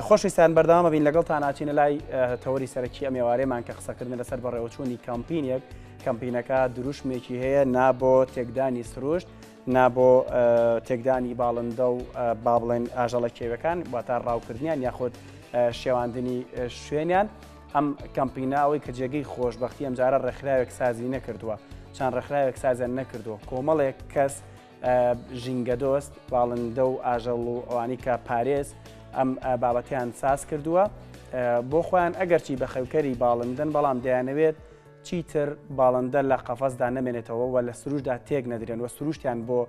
خۆشویستان بەردەوامە بین لەگەڵتان ئاچینە لای تەوەری سەرەکی ئەم ێوارێمان کە قسەکردن لەسەر بەڕێوەچوونی کەمپینێک کەمپینەکە دروشمێکی هەیە نابۆ تێکدانی سروشت نابۆ تێکدانی باڵندە و با بڵێن ئاژەڵە کێوەکان واتا ڕاوکردنیان یاخود شێواندنی شوێنیان ئەم کەمپینە ئەوەی کە جێگەی خۆشببختی ئەمجارە ڕێکخراوێک سازی نەکردووە چەند ڕێکخراوێک سازیان نەکردووە کۆمەڵێک کەس ژینگەدۆست، باڵندە و ئاژەڵ و ئەوانی کە پارێز ئەم بابەتیان ساز کردووە بۆ خۆیان ئەگەرچی بە خەوکەری باڵندن بەڵام دەیانەوێت چیتر باڵندە لە قەفەزدا نەمێنێتەوە و لە سروشدا تێک نەدرێن و سروشتیان بۆ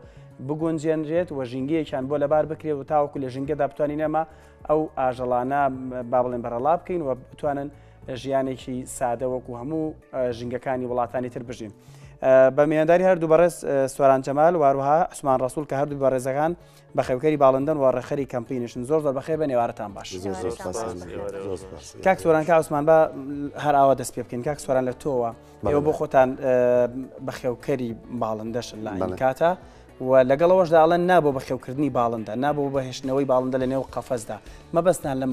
بگونجێنرێت و ژینگەیەکیان بۆ لەبار بکرێت و تاوەکو لە ژینگەدا بتوانین نەما ئەو ئاژەڵانە با بڵێن بەرەڵا بکەین و بتوانن ژیانێکی سادە وەکو هەموو ژنگەکانی وڵاتانی تر بژین. بە میێنداری هەردوو بەڕێز سواران جەمال واروها عسمان ڕسول کە هەردوو بەڕێزەکان بە خێوکەری باڵندەن و ڕێخەری کەمپینیشن زۆر زۆر بەخێ بە نێوارتان باش کاک سۆران کا عسمان بە هەر ئاوا دەست پێ بکەین کاک سۆران لە تۆوە ئێوە بۆ خۆتان بە خێوکەری باڵندەشن لە کاتە. و لەگەڵەوەشدا ئەڵەن نابوو بە خێوکردنی باڵندە نابوو بەهێشتنەوەی باڵندە لە نێو قەفەزدا مەبەستان لەم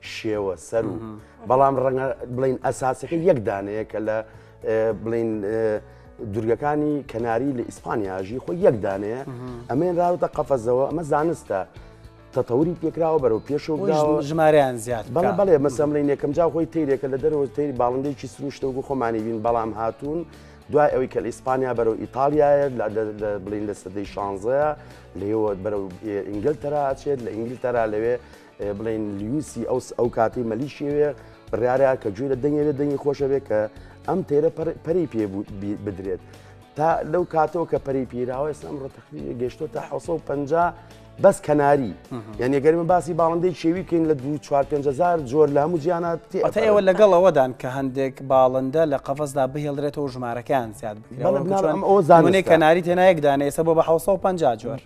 شێوە سەر و بەڵام ڕەنگە بڵین ئەساسەکە یەک دانەیە کە لە بڵین دورگەکانی کەناری لە ئیسپانیاژی خۆی یەک دانەیە ئەمێن راوتە قەفەزەوە ئەمە زانستە تەتەوری پێکراوە بەرەو پێشەوە ژمارەیان زیاد بەڵ بەڵێ مەسەملین یەکەم جا خۆی تیرێکە لە دەرەوە تری باڵندێکی سروشتە و خۆمانی بین بەڵام هاتوون دوای ئەوی کە لە ئیسپانیا بەرەو ئیتالیایە بڵین لە سەدەی شانزەیە لەوە بەرەو ئینگلتەرا ئەچێت لە ئینگلتەرا لەوێ بڵێن لویسی ئەو ئەو کاتی مەلیشیوێ بڕارە کە گوێ لە دەنگێ لە دەنگی خۆشە بێ کە ئەم تێرە پەری پێ بدرێت تا لەو کاتەوە کە پەری پیراوە ئێستا ئەمڕۆ تەخوی گەشتۆ تا 1950 بەس کەناری یعنی گەرمە باسی باڵندەی شێوی کەین لە دو 4هزار جۆر لە هەموو جیانات ئێوە لەگەڵ ئەوەدان کە هەندێک باڵندە لە قەفەسدا بهێڵرێتەوە ژمارەکان زیاد بکەن ئەو زانێ کەناری تێنایەکدانە ئێستا بۆ بە 1950 جۆر.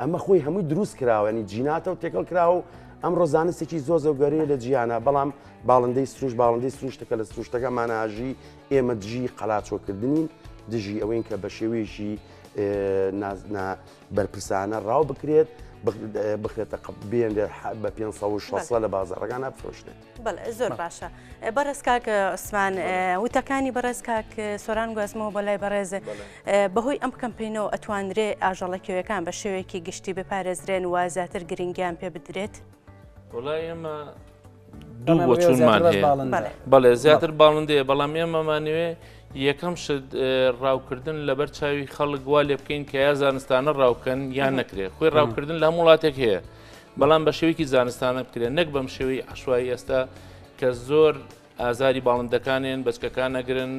ئەمە خۆی هەمووی دروست کراوەنی جیناتە و تێکەڵ کراوە و ئەمڕۆ زانستێکی زۆ زۆگەریە لە جیانە بەڵام باڵندەی سروش باڵندەی سروشتەکە لە سروشتەکە ماناژی ئێمە دژی قەلاچۆکردنین دژی ئەوەین کە بە شێوەیەشی نازنا بەرپرسانە ڕاو بکرێت بخرێتە قبێن بە 500 لە بازارەکان ئەفرۆشێت. بەڵێ زۆر باشە بەڕێز کاک عوسمان وتەکانی بەڕێز کاک سۆران گوازمەوە بە لای بەڕێز بەهۆی ئەم کەمپینەوە ئەتوانرێ ئاژەڵەکەوەکان بە شێوەیەکی گشتی بپارێزرێن و زیاتر گرنگیان پێ بدرێت وڵای ئێمە دوو بۆچونمان بەڵێ زیاتر باڵندەیە بەڵام ئێمەمانوێ یەکەم شت ڕاوکردن لەبەر چاوی خەڵک وا لێ بکەین کە یا زانستانە ڕاوکەن یان نەکرێت خۆی ڕاوکردن لە هەم وڵاتێک هەیە بەڵام بە شێوەیەکی زانستانە بکرێن نەک بەم شێوەی عشوایی ئێستا کە زۆر ئازاری باڵندەکانێن بەچکەکان نەگرن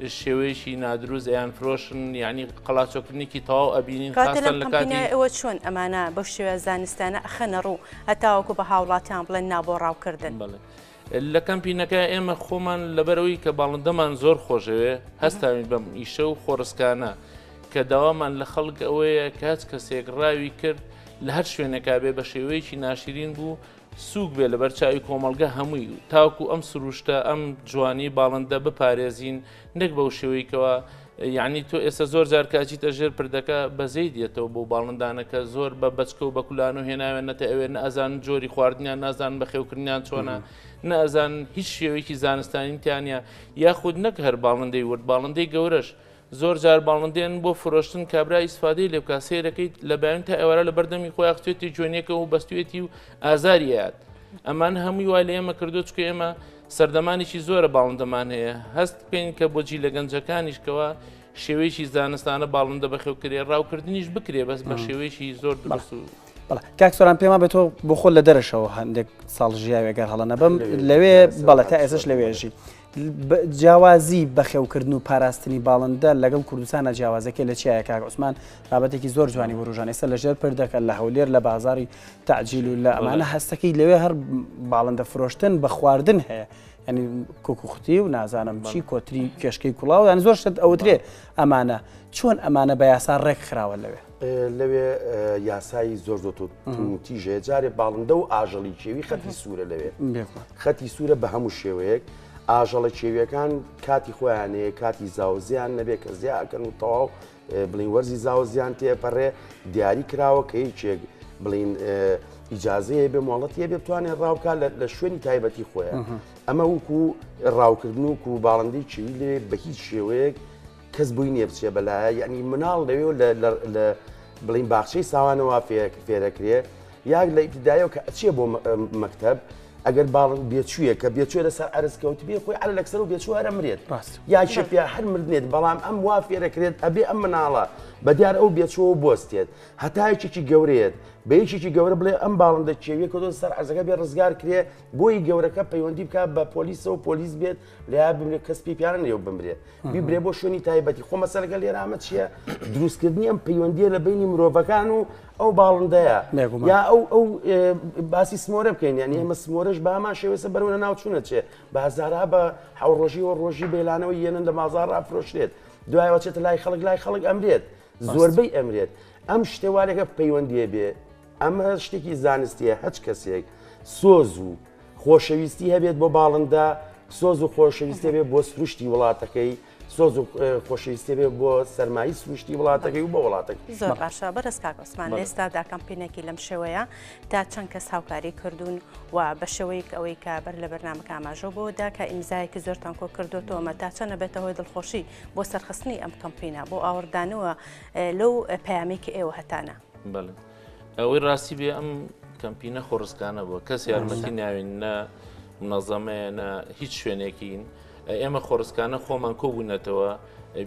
شێوەیەشی نادروست ئەیان فرۆشن یعنی قەڵاچۆکردنیکی تەواو ئەبینین خاستن لە کاتیەوە چۆن ئەمانە بە شێوە زانستانە ئەخەنە ڕوو هەتاوەکو بە هاوڵاتیان بڵێن نابۆ ڕاوکردن بڵێ. لە کەمپینەکە ئێمە خۆمان لەبەرئەوەی کە باڵندەمان زۆر خۆشدەوێت هەستاوین بەم ئیشە و خۆڕسکانە کە داوامان لە خەڵک ئەوەیە کە هەچ کەسێک ڕاوی کرد لە هەر شوێنێکا بێ بە شێوەیەکی ناشرین بوو سووک بێ لەبەر چاوی کۆمەڵگە هەمووی تاکو ئەم سروشتە ئەم جوانی باڵندە بپارێزین نەک بەو شێوەی کەوا یعنی تۆ ئێستا زۆر جار کاچیتە ژێر پردەکە بەزەی دێتەوە بۆ باڵندانەکە زۆر بە بچکە و بەکولان و هێناوێنەتە ئەوێ نازان جۆری خواردنیان نازان بە خێوکردنیان چۆنا نازان هیچ شێوەیەکی زانستانیتیانە یاخود نەک هەر باڵندەی ورد باڵندەی گەورەش زۆر جار باڵندێن بۆ فرۆشتن کابرا ئیسفادەی لێ بکە سێرەکەیت لە بەیان تا ئێوارە لە بەردەمی خۆی ئەخچێتی جوێنەکە و بەستێتی و ئازاریات ئەمان هەمووی وای لە ئێمە کردو چکە ئێمە سەردەمانێکی زۆرە باڵندەمان هەیە، هەست بکەین کە بۆ جیلە گەنجەکانیش کەوا شێوەیەکی زانستانە باڵندە بەخێوکرێ ڕاوکردنیش بکرێ بەس بە شێوەیەکی زۆر دروست و بەڵێ کاک سۆران پێما بە تۆ بۆ خۆ لە دەرەشەوە هەندێک ساڵ ژیاوێ گەر هەڵە نەبم لەوێ بەڵێ تا ئێسش لەوێژی جیاوازی بەخێوکردن و پاراستنی باڵندە لەگەڵ کوردستانە جیاوازەکە لە چیایە کاک عوسمان بابەتێکی زۆر جوانی وروژان ئێستا لەژێر پردەکە لە هەولێر لە بازاری تعجیل و لە ئەمانە هەستەکەی لەوێ هەر باڵندە فرۆشتن بە خواردن هەیە ینی کوکوختی و نازانم چی کۆتری کێشکەی کوڵاو یان زۆر شت ئەوترێ ئەمانە چۆن ئەمانە بە یاسا ڕێک خراوە لەوێ لەوێ یاسایی زۆر زۆر تیژێ جارێ باڵندە و ئاژەڵی کێوی خەتی سوورە لەوێ خەتی سوورە بە هەموو شێوەیەک ئاژەڵە کێویەکان کاتی خۆیانەیە کاتی زاوزیان نەبێ کە زیاکەن و تەواو بڵین وەرزی زاوە زیان تێپەڕێ دیاری کراوە کە یەکێک بڵین ئیجاازەیە بێ مۆڵەتە بێ بتوانێت ڕاوکە لە شوێنی تایبەتی خۆیان ئەمە وکو ڕاوکردن و و باڵندی چی لێ بە هیچ شێوەیەک کەس بووی نیە بچێ بەلایە یعنی مناڵ لەوێ لە بڵین باخچەی ساوانەوە فێرەکرێ یاک لە ئیبتیدایەوە کە ئەچێ بۆ مەکتەب ئەگەر باڵن بێچوویە کە بێچێ لەسەر ئەرز کەوت بێ خۆی ئەل لەکسەر و بێچوو هەرە مرێت ڕاست یاکێ پێ هەر مردێت بەڵام ئەم وا فێرەکرێت ئەبێ ئەم مناڵە بە دیار ئەو بێچەوە بستێت هەتایکێکی گەورەیەت بە یەکێکی گەورە بڵێ ئەم باڵندە کێویە کە دۆ سەر ئەزەکە بێ ڕزگار کرێ بۆی گەورەکە پەیوەندی بکە بە پۆلیسەوە پۆلیس بێت لەیاد بمرێ کەس پێی پیانە لێو بمرێ بیبرێ بۆ شوێنی تایبەتی خۆ مەسەرەکە لێرامە چییە دروستکردنی ئەم پەیوەندیە لە بینی مرۆڤەکان و ئەو باڵندەیە یا ئەو ئەو باسی سمۆرە بکەین یان ئێمە سمۆرەش بامان شێوێسە بەرەوە ناوچوونە چێ بازارا بە حوڕۆژی و ڕۆژی بێلانەوە یەنن لە مازار ڕافرۆشرێت دوایەوە چێتە لای خەڵک لای خەڵک ئەمرێت زۆربەی ئەمرێت ئەم شتێوارێکە پەیوەندیە بێ ئەمە شتێکی زانستیە هەچ کەسێک سۆز و خۆشەویستی هەبێت بۆ باڵندە سۆز و خۆشەویستێ بێ بۆ سروشتی وڵاتەکەی سۆز و خۆشەویستێ بێ بۆ سەرمایی سروشتی وڵاتەکەی و بۆ وڵاتەکە زۆر باشە بەرز کاکۆسمان لێستا داکەمپینێکی لەم شێوەیە تا چەند کەس هاوکاری کردوون و بە شێوەیەک ئەوەی کە بەر لە بەرنمەکە ئاماژۆ بۆ داکە ئیمزایەکی زۆر تانکۆ کردوتەوەمە تا چەنە بێتەوەی دڵخۆشی بۆ سەرخستنی ئەم کەمپینە بۆ ئاوردانەوە لەو پامێکی ئێوە هەتانە. بەڵێ ئەوەی ڕاستی بێ ئەم کەمپینە خۆڕسکانە بووە کەس یارمەتی ناوین نە منەزەمەیە نە هیچ شوێنێکین ئێمە خۆڕسکانە خۆمان کۆبوونەتەوە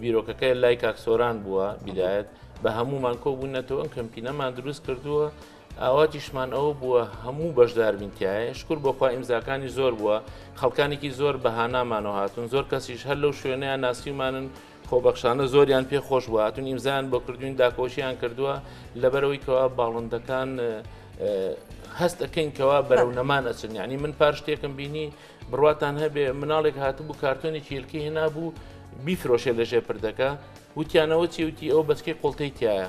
بیرۆکەکەی لای کاکسۆران بووە بیدایەت بە هەمومان کۆبوونەتەوە ئەم کەمپینەمان دروست کردووە ئاواتیشمان ئەوە بووە هەموو بەشداربینتیایە شکر بۆخوا ئیمزاکانی زۆر بووە خەڵکانێکی زۆر بەهانامانەوە هاتون زۆر کەسیش هەر لەو شوێنیان ناسیمانن خۆبەخشانە زۆریان پێ خۆش بوو هاتون ئیمزان بۆ کردوین داکۆشیان کردووە لەبەرەوەی کەوا باڵندەکان هەست ئەەکەین کەوا بەرەو نەمان ئەچن ینی من پار شتێکم بینی بڕاتان هەبێ مناڵێک هاتبوو کارتۆنی چیلکی هێنا بوو بیفرۆشێ لەژێ پردەکە وتیانەوە چی وتی ئەو بەچکی قوڵتەی تایە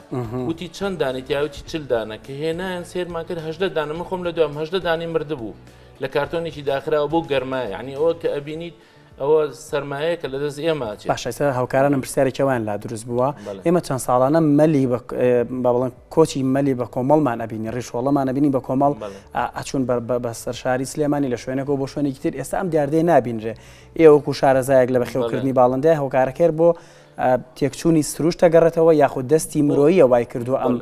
وتی چەند دانی تیاوتی چل دانە کە هێنایان سێرمان کرد هەدە دانە من خۆم لە دوام هەدە دانی مردبوو لە کارتۆنێکی داخراوە بۆ گەرمای عنی ئەوە کە ئەبینیت ئەوە سەرمایە کە لە دەست ئێمە باشە هاوکارانم پرسیارێکی وان لا دروست بووە ئێمە چەند ساڵانە مەلی بە بڵند کۆچی مەلی بە کۆمەڵمان ئەبینی ڕیشۆڵەمان ئەبینی بە کۆمەڵ ئەچون بە سەر شاری سلێمانی لە شوێنەکە بۆ شوێنێکی تر ئێستا ئەم دیاردەیە نابینرێ ئێوەکو شارەزایەک لە بەخێوکردنی باڵندای هۆکارەکەر بۆ تێکچوونی سروشتە گەڕێتەوە یاخود دەستی مرۆیە وای کردو ئەم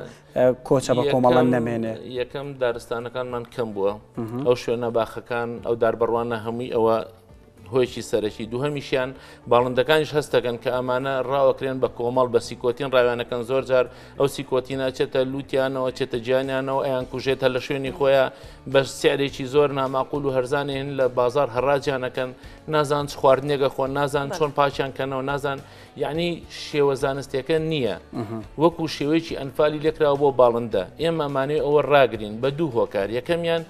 کۆچە بە کۆمەڵە نەمێنێ یەکەم دارستانەکانمان کەم بووە ئەو شوێنە باخەکان ئەو داربڕوانە هەمووی ئەوە هۆیکی سەرەکی دووهمیشیان باڵندەکانیش هەستەکەن کە ئەمانە ڕاوەکرێن بە کۆمەڵ بە سیکۆتین ڕاوێنەکەن زۆر جار ئەو سیکۆتینە چێتە لووتیانەوە چێتە گیانیانەوە ئەیان کوژێتە لە شوێنی خۆیان بە سعرێکی زۆر ناماقول و هەرزانێن لە بازار هەڕاجانەکەن نازان چ خواردنێگە خۆن نازان چۆن پاچیان کەنەوە نازان یەعنی شێوە زانستیەکە نییە وەکو شێوەیەکی ئەنفالی لێکراوە بۆ باڵندە ئێمە مانێ ئەوە ڕاگرین بە دوو هۆکار یەکەمیان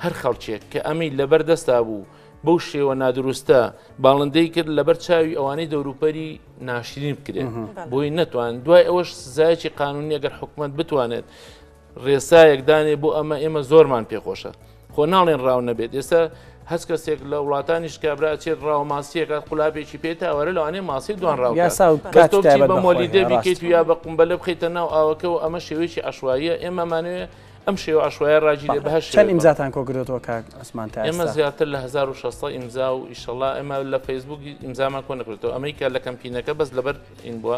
هەر خەڵکێک کە ئەمەی لەبەر دەستا بوو بەو شێوە نادروستە باڵندەی کرد لەبەر چاوی ئەوانەی دەوروپەری ناشرین بکرێن بۆی نەتوان دوای ئەوەش سزایەکی قانونی ئەگەر حکومت بتوانێت ڕێسایەک دانێ بۆ ئەمە ئێمە زۆرمان پێخۆشە خۆ ناڵێن ڕاو نەبێت ئێستا هەست کەسێک لە وڵاتانیش کابرا چێت ڕاو ماسیەکات قولابێکی پێ تاوەرە لەوانێ ماسی دوان ڕاو بە مۆلی دەبیکەیت و یا بە قمبەلە بخیتە ناو ئاوەکەەوە ئەمە شێوەیەکی عشواییە ئێمەمانوێ ئەم شێوە عشوایە ڕاجی لێ بەهش چەند ئیمزاتان کۆگرێتەوە کاک ئەسمان تا ئێمە زیاتر لە 1600 ئیمزا و ئیشەڵا ئێمە لە فەیسبوک ئیمزامان کۆ نەکرێتەوە ئەمریکا لە کەمپینەکە بەس لەبەر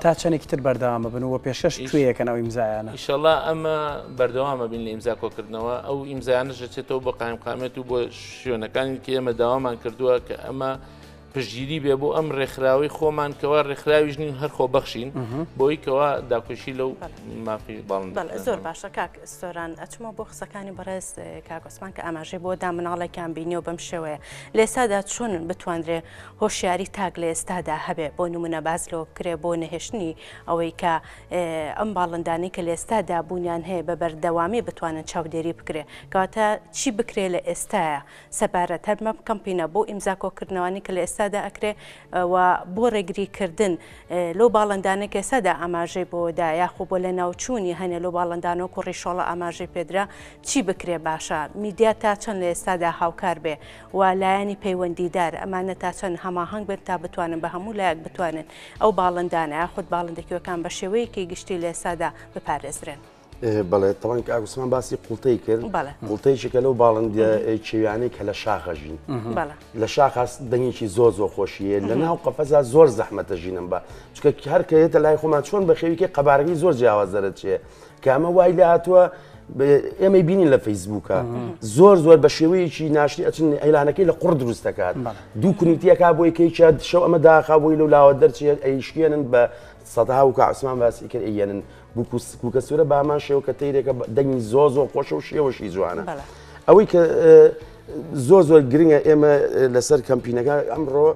تا چەنێکی تر بەردەوام ببن و پێشکەش کوێ یەکەن ئەو ئیمزایانە؟ ئیشەڵا ئەمە بەردەوامە بین لە ئیمزا کۆکردنەوە ئەو ئیمزانە ژەچێتەوە بە قایمقامێت و بۆ شوێنەکانی کە ئێمە داوامان کردووە کە ئەمە پشگیری بێ بۆ ئەم ڕێکخراوی خۆمان کەوا ڕێکخراویش نین هەر خۆ بەخشین بۆی کەوا داکوشی لەو مافی باڵ زۆر باشە کاک سۆران ئەچمە بۆ قسەکانی بەڕێز کاگۆسمان کە ئاماژەی بۆ دا مناڵێکیان بینی و بەم شێوەیە لێسادا چۆن بتواندرێ هۆشیاری تاک لە ئێستادا هەبێ بۆ نمونە باس لەوە بکرێ بۆ نەهێشتنی ئەوەی کە ئەم باڵندانەی کە لە ئێستادا بوونیان هەیە بە بەردەوامی بتوانن چاودێری بکرێ کەواتە چی بکرێ لە ئێستاە سەبارەت هەر بەم کەمپینە بۆ ئیمزا کۆکردنەوانی کە لە ئێستادا ئەکرێ و بۆ ڕێگری کردن لەو باڵندانە کە ئێستادا ئاماژەی بۆدا یاخۆ بۆ لە ناوچوونی هەنێ لەو باڵندان و کوڕی شۆڵە ئاماژەی پێدرا چی بکرێ باشە میدیا تا چەند لە ئێستادا هاوکار بێ و لایەنی پەیوەندیدار، ئەمانە تا چەند هەماهەنگ بن تا بتوانن بە هەموو لایەک بتوانن ئەو باڵندانە یاخود باڵندە کێوەکان بە شێوەیەکی گشتی لە ئێستادا بپارێزرێن. بەڵێ تەوان کە ئاگوستمان باسی قوڵتەی کرد قوڵتەیشێکە لەو باڵندە کێویانەی کە لە شاخە ژین لە شاخاس دەنگێکی زۆ زۆ خۆشیە لە ناو قەفەزا زۆر زەحمەتە ژینم بە چکە هەرکەێتە لای خۆمان چۆن بەخێویکە قەبارەکەی زۆر جیاواز دەرەچێت کە ئەمە وای لە هاتووە ئێمەی بینین لە فەیسبووکە زۆر زۆر بە شێوەیەکی ناشتی ئەچن ئەیلانەکەی لە قڕ دروست دەکات دوو کونیتیەکە بۆی کەیکە شەو ئەمە داخا بۆی لەو لاوە دەرچێت ئەیشکێنن بە سەدا و کاسمان باسی کرد ئەیەنن بکوکە سوورە بامان شێوە کە تیرێکە دەنگی زۆ زۆ خۆشە و شێوەشی جوانە ئەوەی کە زۆ زۆر گرنگە ئێمە لەسەر کەمپینەکە ئەمڕۆ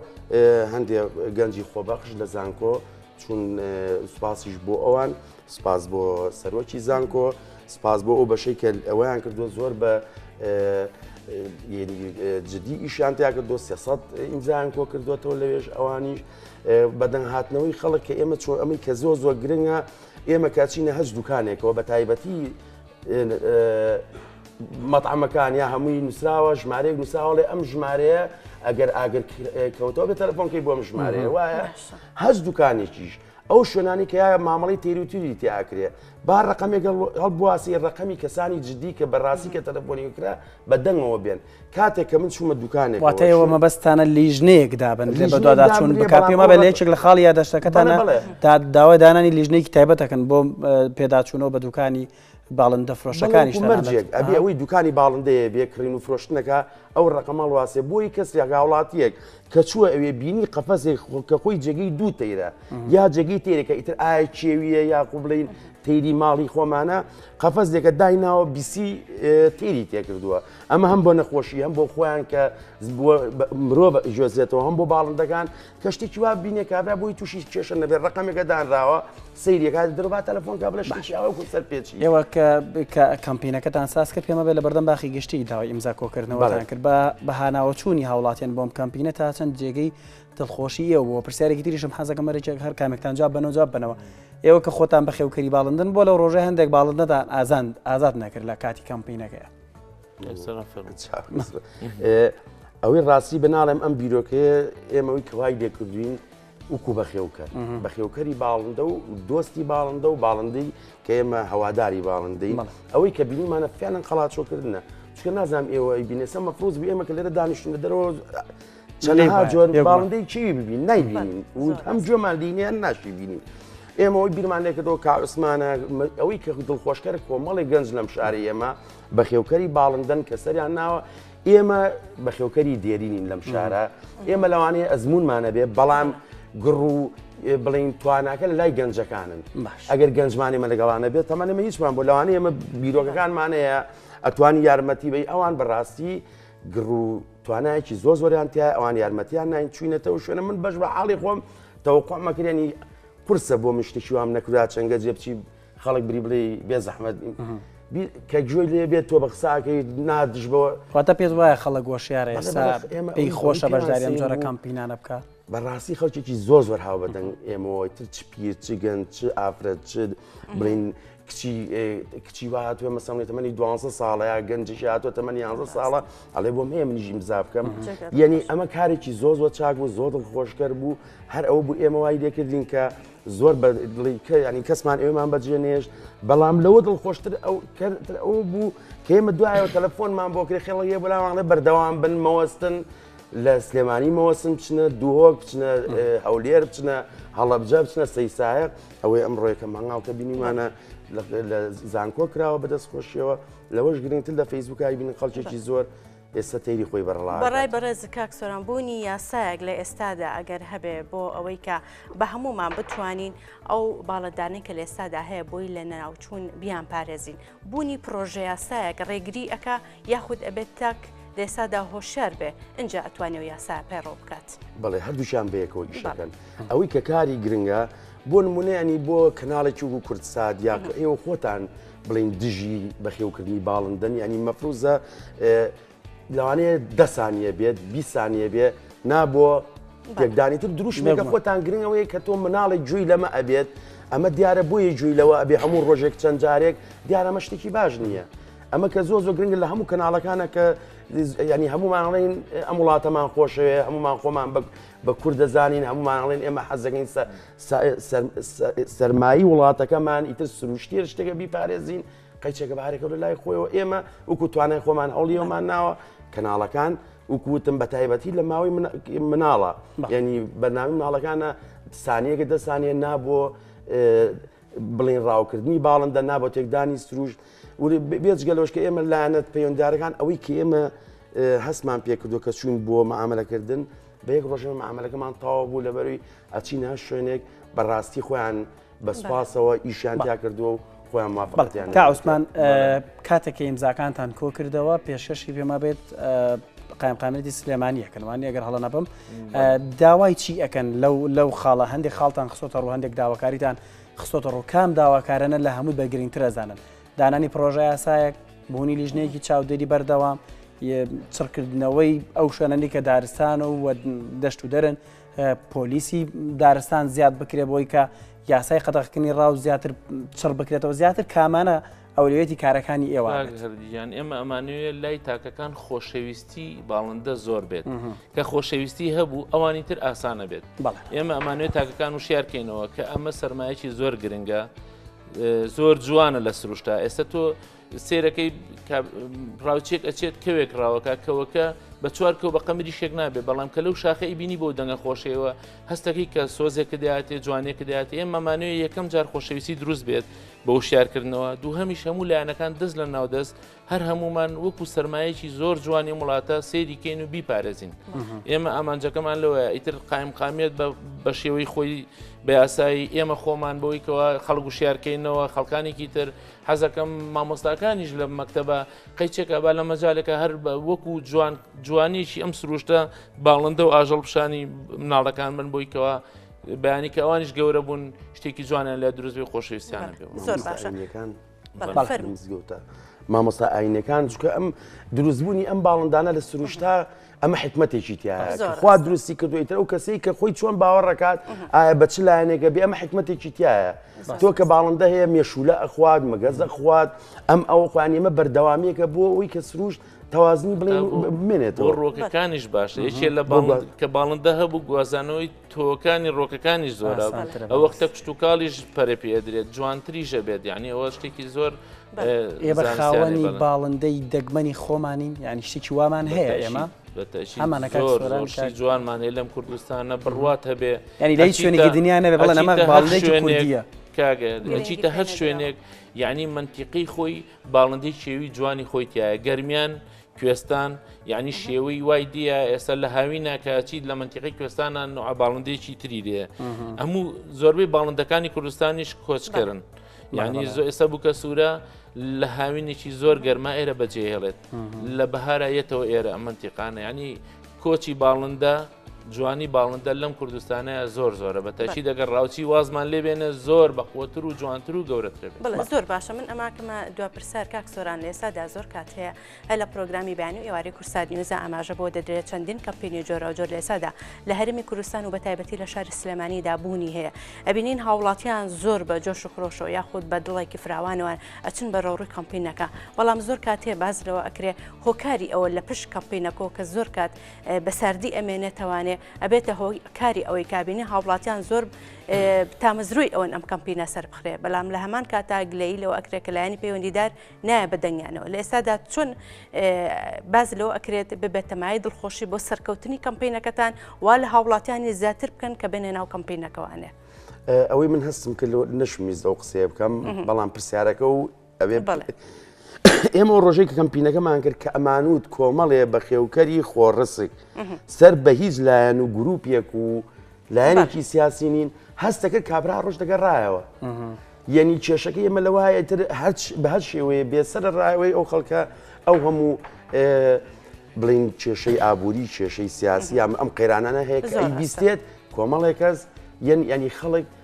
هەندێک گەنجی خۆبەخش لە زانکۆ چون سوپاسیش بۆ ئەوان سپاس بۆ سەرۆکی زانکۆ سپاس بۆ ئەو بەشەی کە ئەویان کردو زۆر بە جدی ئیشیان تیا کردو سێسەد ئینجایان کۆ کردوێتەوە لەوێش ئەوانیش بەدەنگ هاتنەوەی خەڵک کە ئێمە چۆن ئەمەی کە زۆر زۆر گرنگە ئێمە کاچینە هەز دوکانێکەوە بە تایبەتی مەطعمەکان یا هەمووی نووسراوە ژمارەیەک نووساوەڵێ ئەم ژمارەیە ئەگەر ئاگر کەوتەوە بە تەلەفۆنکەی بۆم ژمارەیە وایە هەچ دوکانێکیش ئەو شوێنانی کە یایە مامەڵی تێروتیری تیاکرێ با ڕقەمێک هەڵبواسی ڕقەمی کەسانی جددی کە بەڕاستی کە تەلەفۆنی کرا بە دەنگەوە بێن کاتێک کە من چوومە دوکانێک واتەوە مەبەستانە لیژنەیەک دابن لە بەدواداچوون بکات پێمە بە لەیەکێک لە خاڵی یادەشتەکەتانە تا داوای دانانی لیژنێکی تایبەتەکەن بۆ پێداچوونەوە بە دوکانی باڵندە فرۆشەکانیش مەرجێک ئەبێ ئەوەی دوکانی باڵندەیە بێ کڕین و فرۆشتنەکە ئەو ڕقەمەڵ واسێ بۆی کەس یاگاوڵاتیەک کە چووە ئەوێ بینی قەفەزێک کە خۆی جێگەی دوو تەیرە یا جێگەی تێرەکە ئیتر ئایا کێویە یا قوبلین تیری ماڵی خۆمانە قەفەزێکە دایناوە بیسی تیری تێکردووە ئەمە هەم بۆ نەخۆشی هەم بۆ خۆیان کە مرۆڤ جۆزێتەوە هەم بۆ باڵندەکان کە شتێکی وا بینێ کابرا بۆی تووشی کێشە نەبێت ڕقەمێکە دانراوە سریەکە دەرەبا تەلەفۆن کا بڵێ شتێکی ئەوە کو سەر پێچی ئێوە کە کەمپینەکەتان ساز کرد پێمە بێت لە بەردەم باخی گشتی داوای ئیمزا کۆکردنەوەیان کرد بە بەهاناوە چوونی هاوڵاتیان بۆم کەمپینە تا چەند جێگەی دڵخۆشی ئێوە بۆ پرسیارێکی تریشم حەزەکە مەرەێک هەر کامێکتان جواب بەەوە جواب بنەوە ئێوە کە خۆتان بەخێوکەری باڵندن بۆ لەو ڕۆژە هەندێک باڵندەتان ئازان ئازاد نەکرد لە کاتی کەمپینەکەیە ئەوەی ڕاستی بناڵێم ئەم بیرۆکەیە ئێمەوەی کەوای لێکردوین وکو بەخێوکە بەخێوکەری باڵندە و دۆستی باڵندە و باڵندەی کە ئێمە هەواداری باڵندەی ئەوەی کە بینیمانە فیانن قەڵاچۆکردە چکە نازانام ئێوە بینێسە مەفروز بێ ئێمە کە لێرە دانیشتن لە دەرەوە چەندها جۆر باڵندەی چی ببین نایبین ئەم جۆمان دینیان ناشی بینین. ئێمەەوەی بیرمان لێکردەوە کاعسمانە ئەوەی کە دڵخۆشکەر کۆمەڵی گەنج لەم شاری ئێمە بەخێوکەری باڵندەن کە سەریان ناوە ئێمە بەخێوکەری دێرینین لەم شارە ئێمە لەوانەیە ئەزمونمانەبێ بەڵام گڕ و بڵین تواناکە لە لای گەنجەکانن ئەگەر گەنجمانی مە لەگەڵانە بێت تەمەەمە هیچمان بۆ لەوانەیە ئمە بیرۆکەکانمانەیە ئەتوانی یارمەتی بی ئەوان بەڕاستی گڕ و توانایکی زۆ زۆریان تیا ئەوان یارمەتیان نین چوینەتەوە شوێنە من بەش بە حاڵی خۆم تەوەقۆمەکرێنی قرسە بۆ مشتشیوام نەکرا چەنگە جێبچی خەڵک بری بڵێ بێ زەحمەت کە گوێی لێ بێت تۆ بە قساکەی نادش بەوە خاتە پێت وایە خەڵک گۆشیارە ئێستا پێی خۆشە بەشداری ئەم جۆرە کەمپینانە بکە بەڕاستی خەڵکێکی زۆر زۆر هاو بەدەنگ ئێمەوەی تر چ پیر چ گەن چ ئافرەت چ بڵین کچی کچی وا هاتووە مەسەڵی تەمەنی دو ساڵە یا گەنجش هاتووە تەمەنی یانزە ساڵە ئەڵێ بۆم هەیە منیژی مزا بکەم یعنی ئەمە کارێکی زۆر زۆر چاک بوو زۆر دڵ خۆشکەر بوو هەر ئەوە بوو ئێمە وای لێکردین کە زۆر بە دڵی کە یعنی کەسمان ئێمان بەجێ نێشت بەڵام لەوە دڵ خۆشتر ئەو کەتر ئەو بوو کێمە دوایەوە تەلەفۆنمان بۆ کرێ خێڵە یە بەلاوانڵێ بەردەوام بن مەوەستن لە سلێمانی مەوەسم بچنە دوهۆک بچنە هەولێر بچنە هەڵەبجە بچنە سەیسایە ئەوەی ئەم ڕۆیەکە مەنگاڵکە بینیمانە لە زانکۆ کراوە بەدەست خۆشیەوە لەوەش گرنگتر لە فەیسبوکای بین خەڵکێکی زۆر ئێستا تەیری خۆی بە ڕڵا بەڕای ئەکات. بەڕێز کاک سۆران بوونی یاسایەک لە ئێستادا ئەگەر هەبێ بۆ ئەوەی کە بە هەموومان بتوانین ئەو باڵەدانەی کە لە ئێستادا هەیە بۆی لە ناوچوون بیان پارێزین بوونی پڕۆژە یاسایەک ڕێگری ئەکا یاخود ئەبێت تاک لە ئێستادا هۆشیار بێ ئینجا ئەتوانێ و یاسا پەیڕەو بکات. بەڵێ هەردووکیان بە یەکەوە ئیش بەڵێ. ئەکەن. ئەوەی کە کاری گرنگە بۆ نموونە یانی بۆ کەناڵێکی وەکوو کوردسات یا کە ئێوە خۆتان بڵین دژی بەخێوکردنی باڵندەن ینی مەفروزە لەوانەیە دەسانە بێت بیسانە بێ نابووە یەکدانی تر دروشمێکە خۆتان گرنگەوەی کە تۆ مناڵێک جوێی لەمە ئەبێت ئەمە دیارە بۆیە جوێی لەوە ئەبێ هەموو ڕۆژێک چەند جارێک دیارەمە شتێکی باش نییە. ئەمە کە زۆ زۆ گرنگە لە هەموو کەناڵەکانە کە ینی هەمومانڵین ئەم وڵاتەمان خۆشەیە هەمومان خۆمان بە کورد دەزانین هەمومانڵێن ئێمە حەزەکەین سەرمایی وڵاتەکەمان ئیتر سروشتیە شتێکە بیپارێزین قەیچەکە بارێکە لە لای خۆیەوە ئێمە وکو توانای خۆمان ئەوڵیەوەمان ناوە کەناڵەکان وکوتم بە تایبەتی لە ماوەی مناڵە ینی بەنامی مناڵەکانە سانیەکە دە سانیە نابووە بڵین ڕاوکردنی باڵندە نابۆ تێکدانی سروشت بێجگەلۆش کە ئێمە لایەنەت پەیوەندارەکان ئەوەی کە ئێمە هەستمان پێکردو کە چوون بۆ مامەلەکردن بە یەک ڕۆژەوە معاملەکەمان تاوا بوو لەبەروی ئەچین هەر شوێنێک بەڕاستی خۆیان بەسپاسەوە ئیشیان تیا کردووە و خۆیان مافەتیان تا عوسمان کاتێککە ئیمزاکانتان کۆ کردەوە پێشکەشی پێما بێت قایم قامێتی سلێمانیە کەنوانی ئەگەر هەڵە نەبم داوای چی ئەەکەن لەو لەو خاڵە هەندێک خاڵتان خسۆتە ڕوو هەندێک داواکاریتان خسۆتە ڕوو کام داواکارانە لە هەمووی بەگرنگترەزانن دانانی پڕۆژەیاسایەک، بوونی لیژنەیەکی چاودێری بەردەوام، چڕکردنەوەی ئەو شوێنەنی کە دارستان و دەشت و دەرن پۆلیسی دارستان زیاد بکرێ بۆی کە یاسای قەتەخکردنی ڕاو زیاتر چڕ بکرێتەوە زیاتر کامانە ئەولێتی کارەکانی ئێوە هەردیان ئێمە ئەمانوێت لای تاکەکان خۆشەویستی باڵندە زۆر بێت کە خۆشەویستی هەبوو ئەوانی تر ئاسانە بێت ئێمە ئەمانوێت تاکەکان و شارکەینەوە کە ئەمە سەرمایەکی زۆر گرنگە زۆر جوانە لە سروشتا ئێستا تۆ سێرەکەی ڕاوچێک ئەچێت کەوێک ڕاوەکە کەوەکە بە چوار کەو بە قەمری شێک نابێ بەڵام کە لەو شاخەی بینی بۆ دەنگە خۆشەوە هەستەکەی کە سۆزێکە دەاتێ جوانێکە دەات ئێمە مانوێ یەکەم جار خۆشەویستی دروست بێت بە وشارکردنەوە دوو هەمیش هەموو لایەنەکان دەست لە ناودەست هەر هەموومان وەکو سەرمایەکی زۆر جوانی وڵاتە سەیری کەین و بیپارێزین ئێمە ئامانجەکەمان لەوەیە ئیتر قایم قامیت بە شێوەی خۆی بە یاسایی ئێمە خۆمان بۆی کەەوە خەڵک و شارکەینەوە خەڵکانێکی تر حەزەکەم مامۆستاکانیش لە مەکتتەبە قەیچێکە با لە مەجالەکە هەر بە وەکو جوان جوانیشی ئەم سروشتە باڵندە و ئاژەڵ پیشانی مناڵەکان من بۆیکەوە بەیانی کە ئەوانش گەورە بوون شتێکی جوانیان لە دروستبی خۆشەویستیانەکە زۆر باشەکان. مزگەوتە مامۆستا ئاینەکان چکە ئەم دروستبوونی ئەم باڵندانە لە سروشتا ئەمە حکمتێکی تیا خوا دروستی کردویتە ئەو کەسەی کە خۆی چۆن باوەڕەکات ئایا بە چ لایەنێکە بێ ئەمە حکمتێکی تایە تۆ کە باڵندە هەیە مێشولە ئەخوات مەگەزە خوات ئەم ئەو خوانیمە بەردەوامیەکە بۆ ئەوی کە سروشت تەوازنی بڵێ بمێنێتەوە ڕۆکەکانیش باشە یەکێ لە باڵ کە باڵندە هەبوو گوازانەوەی تۆوەکانی ڕۆکەکانی زۆرە ئەوە کتە کشت و کاڵیش پەرە پێ ئەدرێت جوانتریژە بێت یعنی ئەوە شتێکی زۆر ئێمە خاوەنی باڵندەی دەگمەنی خۆمانین یعنی شتێکی وامان هەیە ئێمە ئەمانەکەشی جوانمان هەیە لەم کوردستانە بڕوات هەبێ ینی لە شوێنێکی دنیا نەبێ بڵێ نەمە باڵندەی کوردیە کاگەچیتە هەر شوێنێک یعنی منتیقی خۆی باڵندەی شێوی جوانی خۆی تایە گەرمیان کوێستان یعنی شێوەی وای دیە ئێستا لە هاوی ناکچیت لە منتیقی کوێستانە نوع باڵندێکی تری دێ هەموو زۆربەی باڵندەکانی کوردستانیش کۆچکردن یعنی زۆ ئێستا بووکە سوورە لە هاوینێکی زۆر گەرما ئێرە بەجێهێڵێت لە بەهارایەتەوە ئێرە منتیقانە ینی کۆچی باڵندە جوانی باڵندە لەم کوردستانەیە زۆر زۆرە بە تەکی دەگەر ڕاوچی وازمان لێ بێنە زۆر بەقوتر و جوانتر و گەورەترە بڵێ زۆر باشە من ئەماکەمە دو پرسار کاک سۆران لێسادا زۆر کات هەیە هە لە پرۆگرامی بانی و ئێوارەی کورسار نیوزە ئاماژە بۆ دەدرێت چەندین کەمپینی جۆرا جۆر لێسادا لە هەرمی کوردستان و بە تایبەتی لە شاری سلێمانیدا بوونی هەیە ئەبینین هاوڵاتیان زۆر بە جۆش و خرۆشەوە یاخود بە دڵێکی فراوانەوەن ئەچن بە ڕەوڕی کەمپینەکە بەڵام زۆر کاتێ باز لەوە ئەکرێ هۆکاری ئەوە لە پشت کەمپینەکۆ کە زۆر کات بە ساردی ئەمێ نەتەوانێ ئەبێتە هۆ کاری ئەوەی کابینی هاوڵاتیان زۆر تامەزروی ئەوەن ئەم کەمپینە سەر بخرێ بەڵام لە هەمان کاتا گلەی لەو ئەکرێ کە لایەنی پەیوەندیدار نایە بە دەنگیانەوە لە ئێستادا چون باز لەوە ئەکرێت ببێتەمای دڵخۆشی بۆ سەرکەوتنی کەمپینەکەتان وا لە هاوڵاتیانی زیاتر بکەن کە بێنێ ناو کەمپینەکەوانێ ئەوەی من هەستم کرد نەشمیز ئەو قسەیە بکەم بەڵام پرسیارەکە و ئێمە ڕۆژێک کەمپینەکەمان کرد کە ئەمانوت کۆمەڵێ بە خێوکەری خۆڕسک سەر بە هیچ لایەن و گروپێک و لایەنێکی سیاسی نین هەستەکە کابرا ڕۆژ دەگەڕایەوە یەنی کێشەکە ئێمە لە وایە تر هەر بە هەر شێوەیە بێسەر ڕایەوەی ئەو خەڵکە ئەو هەموو بڵین کێشەی ئابووری کێشەی سیاسی یام ئەم قەیرانانە هەیە بیستێت کۆمەڵێکەس یەن ینی خەڵک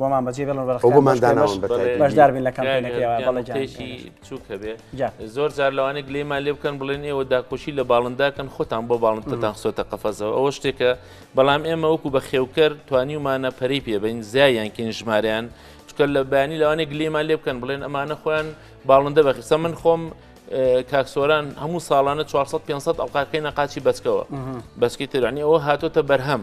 بۆمان بەجێ بڵن بەشداربین لە کامپێنەکەیشی بچووک هەبێ زۆر جار لەوانە گلێمان لێ بکەن بڵێن ئێوە داکۆشی لە باڵنداکەن خۆتان بۆ باڵندتان خسۆتە قەفەزەوە ئەوە شتێکە بەڵام ئێمە وەکو بە خێوکەر توانیومانە پەری پێبین زیایان کین ژماریان چکە لە بەیانی لەوانە گلێمان لێ بکەن بڵێن ئەمانە خۆیان باڵندە بەخیسە من خۆم کاکسۆران هەموو ساڵانە 400 500 ئەڵقاکەی نەقاچی بەچکەوە بەسکی ترانی ئەوە هاتۆتە بەرهەم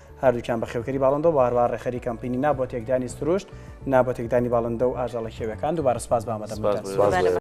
هەردووکیان بەخێوکەری باڵندە و هەروەها ڕێکخەری کەمپەینی نا بۆ تێکدانی سروشت، نا بۆ تێکدانی باڵندە و ئاژەڵە خێویەکان، دووبارە سوپاس بە ئامادەبوونتان.